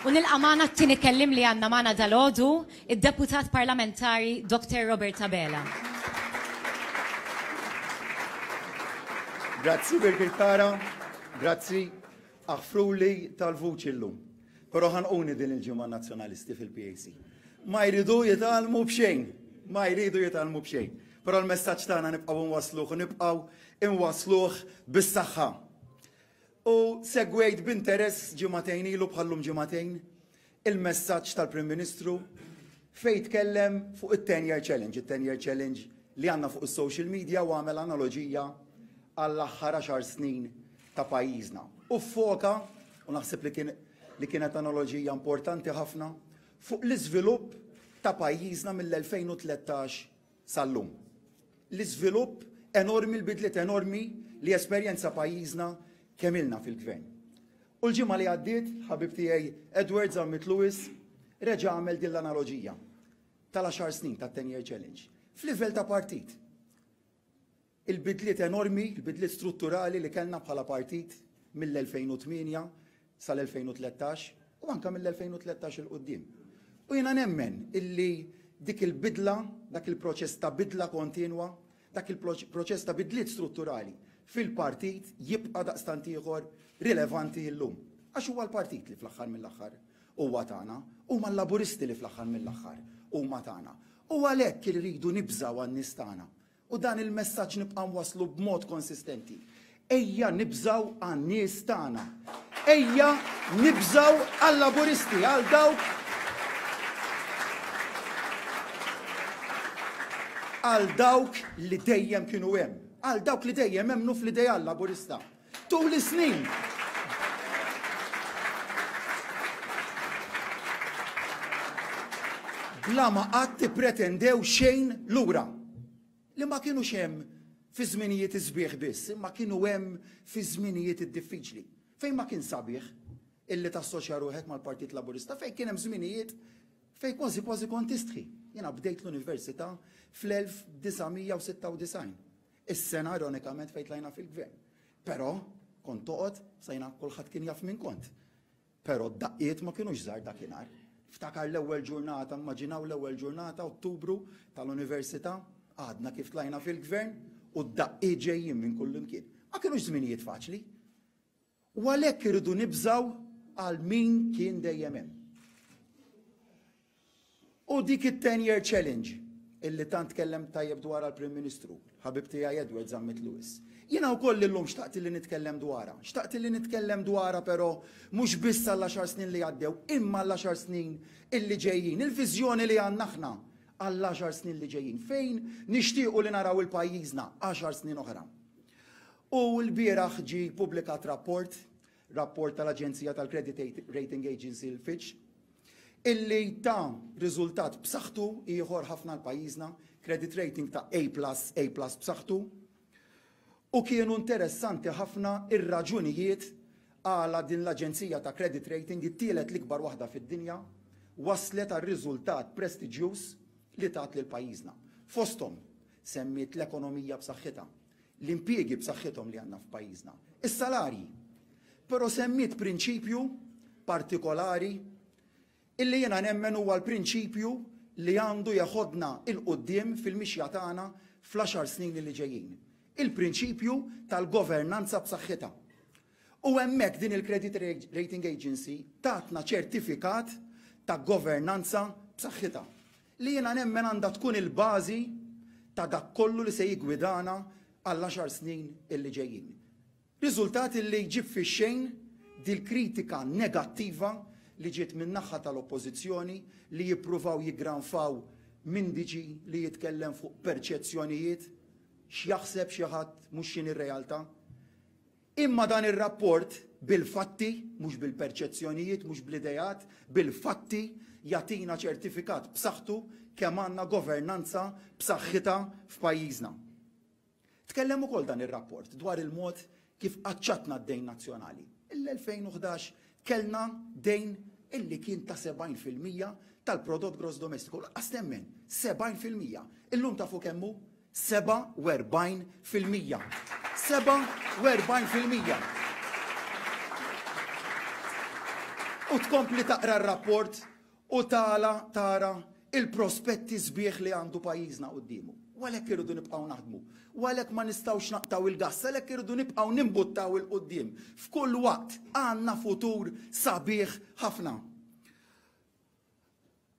U nilqa' magħna t-tieni kelliem li għandna magħna dalgħodu, id-Deputat Parlamentari Dottor Robert Abela. Grazzi Birgit Tara, grazzi. Aħfruli tal-vuċi llum. Però ħanquni din il-ġimgħa Nazzjonalisti fil-PAC. Ma jridu jitgħallmu b'xejn. Ma jridu jitgħallmu b'xejn. Però l-messaġġ tagħna nibqgħu nwassluh u nibqgħu nwassluh bis-saħħa. U segwejt b'interess ġimagħtejn ilu bħal-lum ġimagħtejn il-messaġġ tal-Prim Ministru fejn tkellem fuq it-Ten Year Challenge, it-Ten Year Challenge li għandna fuq is-social media u għamel analoġija għall-aħħar għaxar snin ta' pajjiżna. U ffoka, u naħseb li kien li kienet analoġija importanti ħafna, fuq l-iżvilupp ta' pajjiżna mill-2013 sal-lum. L-iżvilupp enormi, l-bidliet enormi li esperjenza pajjiżna kemm ilna fil-Gvern. U l-ġimgħa li għaddiet, ħabib tiegħi Edward Zammit Lewis reġa' għamel din l-analoġija tal-għaxar snin tat-Ten Year Challenge f'livell ta' partit. Il-bidliet enormi, il-bidliet strutturali li kellna bħala partit mill-2008 sal-2013 u anke mill-2013 'il quddiem. U jiena nemmen illi dik il-bidla, dak il-proċess ta' bidla kontinwa, dak il-proċess ta' bidliet strutturali fil-partit jibqa' daqstant ieħor rilevanti illum. Għax huwa l-partit li fl-aħħar mill-aħħar huwa tagħna, huma l-Laburisti li fl-aħħar mill-aħħar huma tagħna. U għalhekk irridu nibżgħu għan-nies tagħna, U dan il-messaġġ nibqa' nwasslu b'mod konsistenti. Ejja nibżgħu għan-nies tagħna. Ejja nibżgħu għal-Laburisti, għal dawk għal dawk li dejjem kienu hemm, għal dawk li dejjem emmnu fl-ideal Laburista. Tul is-snin, bla ma qatt ippretendew xejn lura, li ma kinux hemm fi żminijiet is-sbieħ biss, imma kienu hemm fi żminijiet id-diffiċli. Fejn ma kien sabiħ illi tassoċja ruħek mal-Partit Laburista, fejn kien hemm żminijiet fejn kważi kważi kont tistħi. Jiena bdejt l-università fl-1996. Is-sena ironikament fejn tlajna fil-Gvern. Però, kont toqgħod, sa jiena kulħadd kien jaf min kont. Però d-daqqiet ma kinux żgħar dakinhar. Niftakar l-ewwel ġurnata, immaġinaw l-ewwel ġurnata, Ottubru, tal-Università, għadna kif tlajna fil-Gvern u d-daqqiet ġejjin minn kullimkien. Ma kinux żminijiet faċli. U għalhekk irridu nibżgħu għal min kien dejjem hemm. U dik it-ten year challenge illi tant tkellem tajjeb dwarha l-Prim Ministru, ħabib tiegħi Edward Zammit Lewis. Jiena wkoll illum xtaqt li nitkellem dwarha. Xtaqt li nitkellem dwarha però mhux biss għall-għaxar snin li għaddew, imma għall-għaxar snin illi ġejjin, il-viżjoni li għandna aħna għall-għaxar snin li ġejjin, fejn nixtiequ li naraw il-pajjiżna għaxar snin oħra. U lbieraħ ġie ppubblikat rapport, rapport tal-aġenzija tal-credit rating agency l-Fitch, illi ta riżultat b'saħħtu ieħor ħafna għal pajjiżna, credit rating ta' A plus, A plus b'saħħtu. U kienu interessanti ħafna r-raġunijiet għala din l-aġenzija ta' credit rating, it-tielet l-ikbar waħda fid-dinja, wasslet għal riżultat prestiġjuż li tat lil pajjiżna. Fosthom, semmiet l-ekonomija b'saħħitha, l-impjiegi b'saħħithom li għandna f'pajjiżna, is-salarji. Però semmiet prinċipju partikolari illi jiena nemmen huwa l-prinċipju li għandu jeħodna 'il quddiem fil-mixja tagħna fl-għaxar snin li ġejjin. Il-prinċipju tal-governanza b'saħħitha. U hemmhekk din il-Credit Rating Agency tatna ċertifikat ta' governanza b'saħħitha. li jiena nemmen għandha tkun il-bażi ta' dak kollu li se jiggwidana għall-għaxar snin li ġejjin. Riżultat li jġib fix-xejn dil-kritika negattiva li ġiet min-naħa tal-Oppożizzjoni li jippruvaw jiggranfaw m'indiġi li jitkellem fuq perċezzjonijiet, x'jaħseb xi ħadd mhux x'inhi r-realtà. Imma dan ir-rapport, bil-fatti, mhux bil-perċezzjonijiet, mhux bl-ideat, bil-fatti, jagħtina ċertifikat b'saħħtu kemm għandna governanza b'saħħitha f'pajjiżna. Tkellem ukoll dan ir-rapport dwar il-mod kif qaċċatna d-dejn nazzjonali. Il-2011 kellna dejn illi kien ta' 70 fil-mija tal-prodott gross domestiku, laqqas temmen, 70 fil-mija. Illum tafu kemm hu? 47 fil-mija! 47 fil-mija! U tkompli taqra r-rapport u tala tara il-prospetti sbieħ li għandu pajjiżna quddiemu. U għalhekk irridu nibqgħu naħdmu. U għalhekk ma nistgħux naqtgħu il-gass, għalhekk irridu nibqgħu nimbuttaw 'il quddiem. F'kull waqt għandna futur sabiħ ħafna.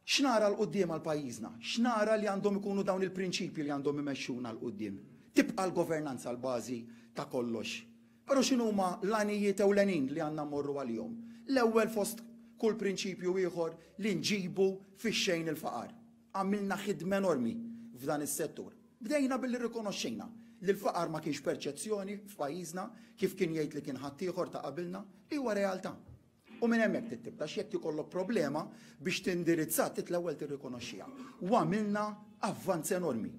X'nara 'l quddiem għal pajjiżna? X'nara li għandhom ikunu dawn il-prinċipji li għandhom imexxuna 'l quddiem? Tibqa' l-governanza l-bażi ta' kollox. Però x'inhuma l-għanijiet ewlenin li għandna mmorru għalihom? L-ewwel fost kull prinċipju ieħor li nġibu fix-xejn il-faqar. Għamilna ħidma enormi f'dan is-settur. Bdejna billi rrikonoxxejna li l-faqar ma kienx perċezzjoni f'pajjiżna, kif kien jgħid li kien ħaddieħor ta' qabilna, li huwa realtà. U minn hemmhekk trid tibda għax jekk ikollok problema biex tindirizzha trid l-ewwel tirrikonoxxiha. U għamilna avvanz enormi.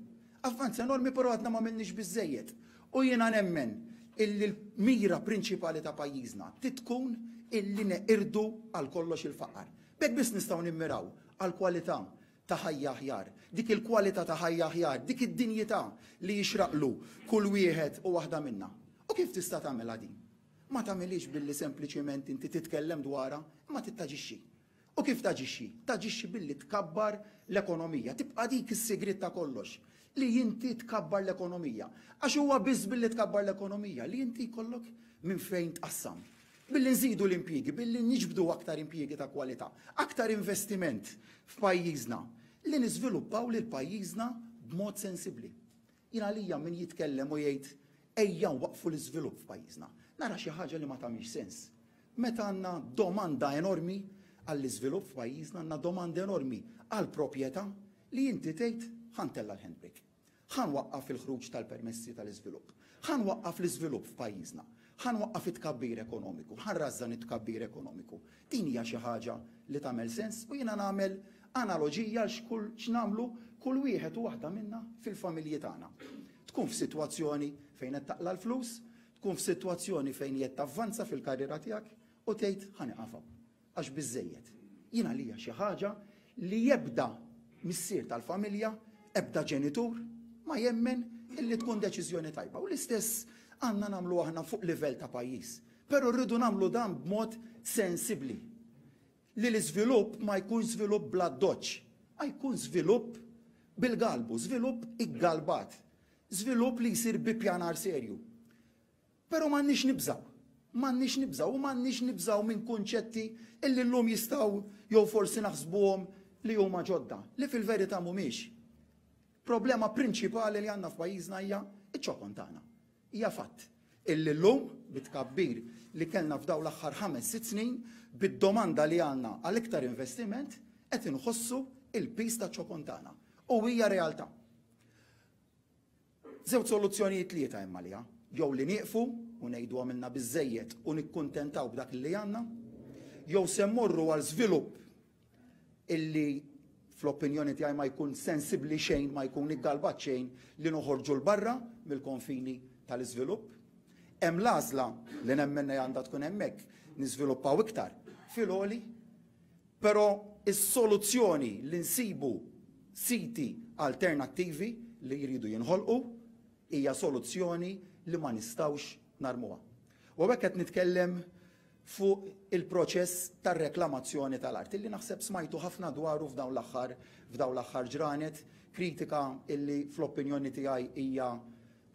Avvanz enormi però għadna m'għamilniex biżżejjed. U jiena nemmen illi l-mira prinċipali ta' pajjiżna trid tkun illi neqirdu għal kollox il-faqar. B'hekk biss nistgħu nimmiraw għal kwalità ta' ħajja aħjar. Dik il-kwalità ta' ħajja aħjar, dik id-dinjità li jixraqlu kull wieħed u waħda minna. U kif tista' tagħmilha din? Ma tagħmilhiex billi sempliċement inti titkellem dwarha, imma trid taġixxi. U kif taġixxi? Taġixxi billi tkabbar l-ekonomija. Tibqa' dik is-sigriet ta' kollox, li inti tkabbar l-ekonomija. Għax huwa biss billi tkabbar l-ekonomija li inti jkollok minn fejn tqassam. Billi nżidu l-impjiegi, billi niġbdu aktar impjiegi ta' kwalità, aktar investiment f'pajjiżna, li niżviluppaw lil pajjiżna b'mod sensibbli. Jien għalija min jitkellem u jgħid ejja nwaqqfu l-iżvilupp f'pajjiżna, nara xi ħaġa li ma tagħmilx sens. Meta għandna domanda enormi għall-iżvilupp f'pajjiżna, għandna domanda enormi għal propjetà, li inti tgħid ħa ntella' l-handbrake. Ħa nwaqqaf il-ħruġ tal-permessi tal-iżvilupp. Ħa nwaqqaf l-iżvilupp f'pajjiżna. Ħa nwaqqaf it-tkabbir ekonomiku. Ħa nrażżan it-tkabbir ekonomiku. Din hija xi ħaġa li tagħmel sens u jiena nagħmel analoġija x'nagħmlu kull wieħed u waħda minna fil-familji tagħna. Tkun f'sitwazzjoni fejn qed taqla' l-flus, tkun f'sitwazzjoni fejn qiegħed tavvanza fil-karriera tiegħek u tgħid ħa nieqaf hawn għax biżżejjed. Jien għalija xi ħaġa li ebda missier tal-familja, ebda ġenitur ma jemmen illi tkun deċiżjoni tajba u l-istess għandna nagħmlu aħna fuq livell ta' pajjiż. Però rridu nagħmlu dan b'mod sensibbli. Li l-iżvilupp ma jkunx żvilupp bl-addoċċ, ma jkun żvilupp bil-galbu, żvilupp iggalbat, żvilupp li jsir bi ppjanar serju. Però m'għandniex nibżgħu. M'għandniex nibżgħu u m'għandniex nibżgħu minn kunċetti illi llum jistgħu jew forsi naħsbuhom li huma ġodda, li fil-verità mhumiex. Problema prinċipali li għandna f'pajjiżna hija ċ-ċokon tagħna. Hija fatt illi llum bit-tkabbir li kellna f'dawn l-aħħar ħames sitt snin, bid-domanda li għandna għal iktar investiment, qed inħossu l-piż taċ-ċokon tagħna. U hija realtà. Żewġ soluzzjonijiet tlieta hemm għaliha. Jew li nieqfu u ngħidu għamilna biżżejjed u nikkuntentaw b'dak li għandna, jew se mmorru għal żvilupp illi fl-opinjoni tiegħi ma jkun sensibbli xejn, ma jkun iggalbat xejn li noħorġu l-barra mill-konfini tal-iżvilupp. Hemm l-għażla li nemmen li għandha tkun hemmhekk niżviluppaw iktar fil-għoli, però is-soluzzjoni li nsibu siti alternattivi li jridu jinħolqu hija soluzzjoni li ma nistgħux narmuha. U hekk qed nitkellem fuq il-proċess tar-reklamazzjoni tal-art, illi naħseb smajtu ħafna dwaru f'dawn l-aħħar f'dawn l-aħħar ġranet, kritika illi fl-opinjoni tiegħi hija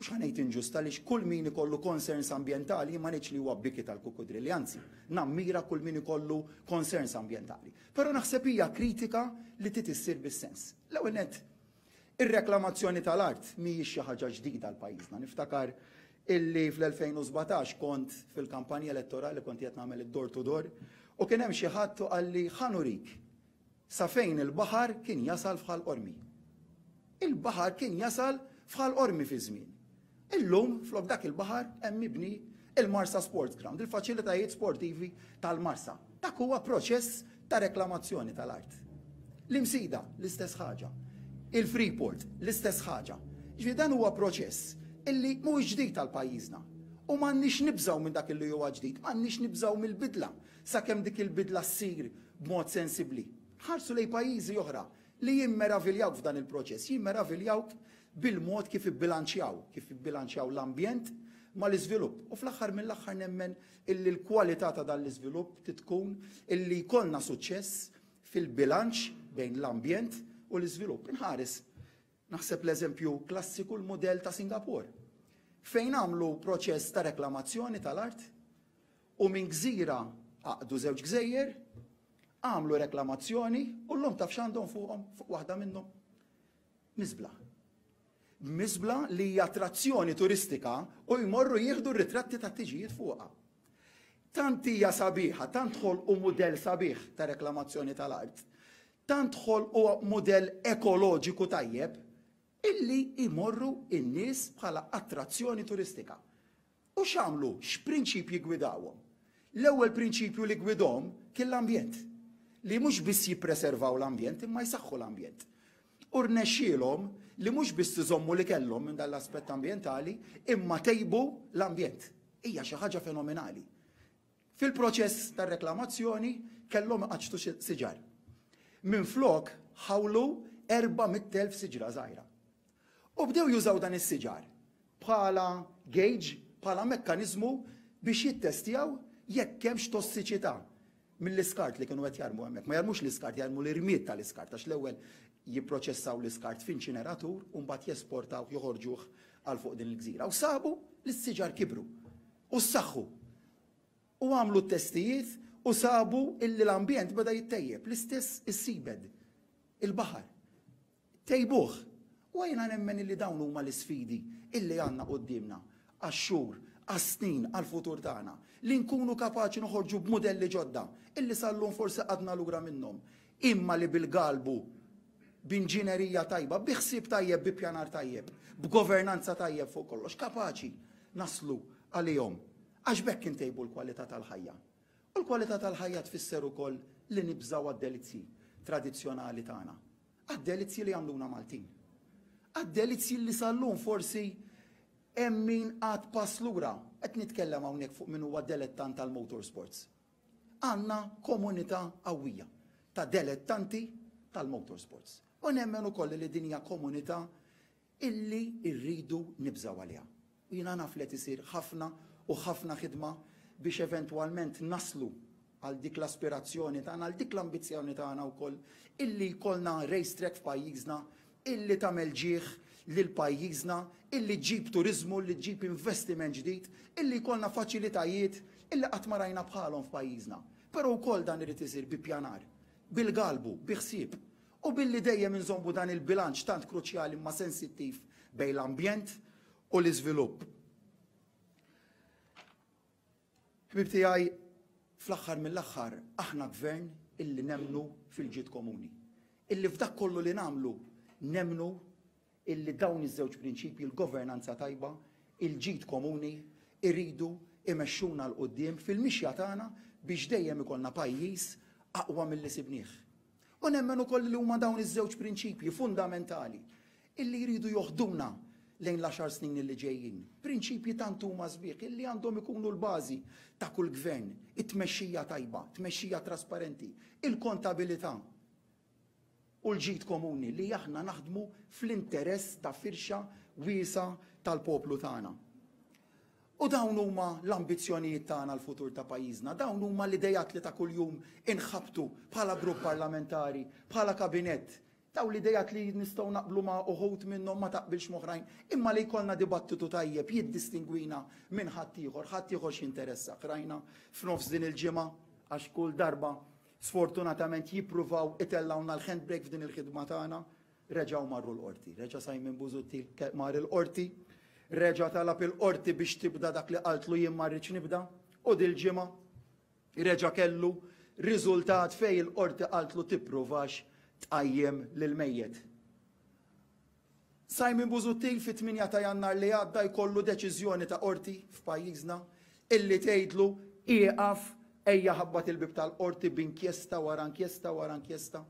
mhux ħanejt inġusta għaliex kull min ikollu concerns ambjentali jien ma ngħidx li huwa biki tal-kukkudrilli, anzi nammira kull min ikollu concerns ambjentali. Però naħseb hija kritika li trid issir bis-sens. L-ewwel nett Ir-reklamazzjoni tal-art mhijiex xi ħaġa ġdida għal pajjiżna. Niftakar illi fl-2017 kont fil-kampanja elettorali kont qiegħed nagħmel id-door to door u kien hemm xi ħadd u qalli ħa nurik sa fejn il-baħar kien jasal f'Ħal Qormi. Il-baħar kien jasal f'Ħal Qormi fi żmieni. Illum, flok dak il-baħar hemm mibni il-Marsa Sports Ground, il-faċilitajiet sportivi tal-Marsa. Dak huwa proċess ta' reklamazzjoni tal-art. L-Imsida, l-istess ħaġa. Il-Freeport, l-istess ħaġa. Ġifieri dan huwa proċess illi mhuwiex ġdid għal pajjiżna. U m'għandniex nibżgħu minn dak illi huwa ġdid, m'għandniex nibżgħu mill-bidla sakemm dik il-bidla ssir b'mod sensibbli. Ħarsu lejn pajjiżi oħra Li jimmeraviljawk f'dan il-proċess, jimmeraviljawk bil-mod kif ibbilanċjaw, kif ibbilanċjaw l-ambjent mal-iżvilupp. U fl-aħħar mill-aħħar nemmen illi l-kwalità ta' dan l-iżvilupp tkun illi jkollna suċċess fil-bilanċ bejn l-ambjent u l-iżvilupp. Inħares, naħseb l-eżempju klassiku l-mudell ta' Singapore, fejn għamlu proċess ta' reklamazzjoni tal-art u minn gżira għaqqdu żewġ gżejjer, għamlu reklamazzjoni u llum taf x'għandhom fuqhom, fuq waħda minnhom? Miżbla. Miżbla li hija attrazzjoni turistika u jmorru jieħdu r-ritratti tat-tiġijiet fuqha. Tant hija sabiħa, tant ħolqu mudell sabiħ ta' reklamazzjoni tal-art, tant ħolqu mudell ekoloġiku tajjeb, illi jmorru n-nies bħala attrazzjoni turistika. U x'għamlu? X'prinċipji ggwidawhom? L-ewwel prinċipju li ggwidhom kien l-ambjent, li mhux biss jippreservaw l-ambjent imma jsaħħu l-ambjent. U rnexxielhom li mhux biss iżommu li kellhom minn dan l-aspett ambjentali imma tejbu l-ambjent. Hija xi ħaġa fenomenali. Fil-proċess tar-reklamazzjoni kellhom iqaċċtu siġar. Minflok ħawlu 400,000 siġra żgħira. U bdew jużaw dan is-siġar bħala gauge, bħala mekkaniżmu biex jittestjaw jekk hemmx tossiċità mill-iskart li kienu qed jarmu hemmhekk. Ma jarmux l-iskart, jarmu l-irmied tal-iskart għax l-ewwel jipproċessaw l-iskart f'inċineratur u mbagħad jesportawh joħorġuh għal fuq din il-gżira. U sabu li s-siġar kibru. u ssaħħu u għamlu t-testijiet u sabu illi l-ambjent beda jittejjeb, l-istess is-seabed, il-baħar. Tejbuh. U jiena nemmen illi dawn huma l-isfidi illi għandna quddiemna għax-xhur, għas-snin, għall-futur tagħna, li nkunu kapaċi noħorġu b'mudelli ġodda illi sal-lum forsi qagħdna lura minnhom, imma li bil-galbu, b'inġinerija tajba, bi ħsieb tajjeb, bi ppjanar tajjeb, b'governanza tajjeb fuq kollox, kapaċi naslu għalihom. Għax b'hekk intejbu l-kwalità tal-ħajja. U l-kwalità tal-ħajja tfisser ukoll li nibżgħu għad-delizzji tradizzjonali tagħna, għad-delizzji li jagħmluna Maltin. Għad-delizzji li sal-lum forsi hemm min għad pass lura. Qed nitkellem hawnhekk fuq min huwa delettant tal-motorsports. Għandna komunità qawwija ta' delettanti tal-motorsports u nemmen ukoll li din hija komunità illi rridu nibżgħu għaliha. U jiena naf li qed isir ħafna u ħafna ħidma biex eventwalment naslu għal dik l-aspirazzjoni tagħna, għal dik l-ambizzjoni tagħna wkoll illi jkollna racetrack f'pajjiżna illi tagħmel ġieħ lil pajjiżna, illi ġġib turiżmu, illi ġġib investiment ġdid, illi jkollna faċilitajiet illi qatt ma rajna bħalhom f'pajjiżna. Però wkoll dan irid isir bi ppjanar, bil-galbu, bi ħsieb u billi dejjem inżommu dan il-bilanċ tant kruċjali imma sensittiv bejn l-ambjent u l-iżvilupp. Ħbieb tiegħi, fl-aħħar mill-aħħar aħna Gvern illi nemmnu fil-ġid komuni, illi f'dak kollu li nagħmlu nemmnu illi dawn iż-żewġ prinċipji, l-governanza tajba, il-ġid komuni, iridu imexxuna 'l quddiem fil-mixja tagħna biex dejjem ikollna pajjiż aqwa milli sibnieh. U nemmen ukoll li huma dawn iż-żewġ prinċipji fundamentali illi jridu joħduna lejn l-għaxar snin illi ġejjin. Prinċipji tant huma sbieħ illi għandhom ikunu l-bażi ta' kull gvern, it-tmexxija tajba, tmexxija trasparenti, il-kontabilità u l-ġid komuni li aħna naħdmu fl-interess ta' firxa wiesgħa tal-poplu tagħna. U dawn huma l-ambizzjonijiet tagħna għall-futur ta' pajjiżna, dawn huma l-ideat li ta' kuljum inħabbtu bħala grupp parlamentari, bħala kabinett, dawn l-ideat li nistgħu naqblu ma' uħud minnhom ma taqbilx m'oħrajn, imma li jkollna dibattitu tajjeb jiddistingwina minn ħaddieħor, ħaddieħor x'jinteressah, rajna f'nofs din il-ġimgħa, għax kull darba sfortunatament jippruvaw itellgħulna l-handbrake f'din il-ħidma tagħna, Reġgħu marru l-Qorti. Reġa' Simon Busuttil mar il-Qorti. Reġa' talab il-Qorti biex tibda dak li qaltlu jien ma rridx nibda. U dil-ġimgħa reġa' kellu riżultat fejn il-Qorti qaltlu tippruvax tqajjem lill-mejjet. Simon Busuttil fit-8 ta' Jannar li għadda jkollu deċiżjoni ta' Qorti f'pajjiżna illi tgħidlu ieqaf ejja ħabbat il-bieb tal-Qorti b'inkjesta wara inkjesta wara inkjesta.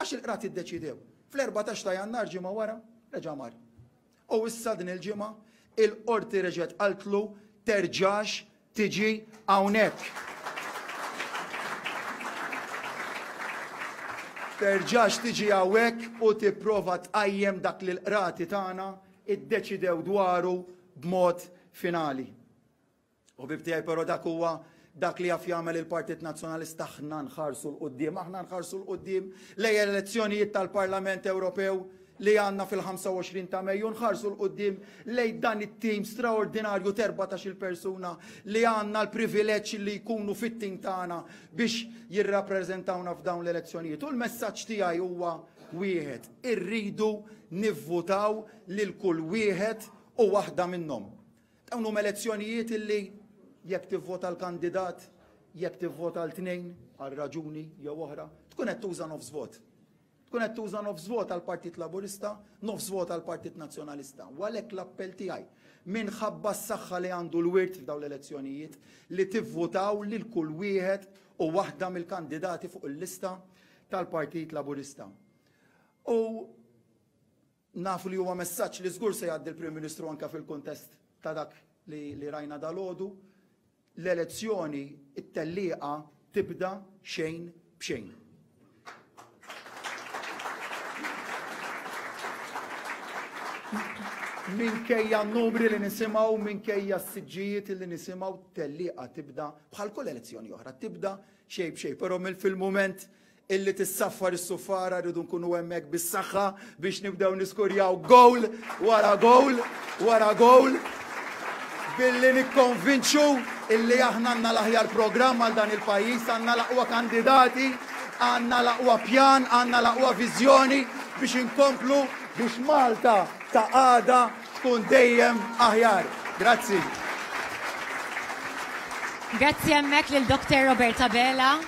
Għax il-Qrati ddeċiedew. Fl-erbatax ta' Jannar ġimgħa wara reġa' mar. U issa din il-ġimgħa il-Qorti reġgħet qaltlu terġax tiġi hawnhekk. Terġax tiġi hawnhekk u tipprova tqajjem dak li l-Qrati tagħna iddeċidew dwaru b'mod finali. Ħbieb tiegħi però dak huwa dak li jaf jagħmel il-Partit Nazzjonalista aħna nħarsu l qudiem aħna nħarsu l qudiem lej elezzjonijiet tal-Parlament Ewropew li għandna fil-25 ta' Mejju nħarsu l qudiem lej dan it-tim straordinarju terba ta' xil persuna li għandna l-privileġġ li jkunu fit-tim tagħna biex jirrappreżentawna f'dawn l-elezzjonijiet. U l-messaġġ tiegħi huwa wieħed, irridu nivvutaw lil kull wieħed u waħda minnhom. Dawn huma elezzjonijiet illi jekk tivvota għal kandidat, jekk tivvota għal tnejn għal raġuni jew oħra, tkun qed tuża nofs vot. Tkun qed tuża nofs vot għall-Partit Laburista, nofs vot għall-Partit Nazzjonalista. U għalhekk l-appell tiegħi minħabba s-saħħa li għandu l-wirt f'dawn l-elezzjonijiet li tivvutaw lil kull wieħed u waħda mill-kandidati fuq il-lista tal-Partit Laburista. U Nafu li huwa messaġġ li żgur se jgħaddi l-Prim Ministru anke fil-kuntest ta' dak li, li rajna dalgħodu. L-elezzjoni, it-tellieqa tibda xejn b'xejn. Minkejja n-numri li nisimgħu, minkejja s-siġġijiet li nisimgħu, tellieqa tibda bħal kull elezzjoni oħra, tibda xejn b'xejn, però mill fil-mument illi tissaffar is-suffara rridu nkunu hemmhekk bis-saħħa biex nibdew niskurjaw gowl wara gowl wara gowl billi nikkonvinċu illi aħna għandna l-aħjar programm għal dan il-pajjiż, għandna l-aqwa kandidati, għandna l-aqwa pjan, għandna l-aqwa viżjoni biex inkomplu biex Malta ta' għada tkun dejjem aħjar. Grazzi. Grazzi hemmhekk lil Dr. Roberta Bela.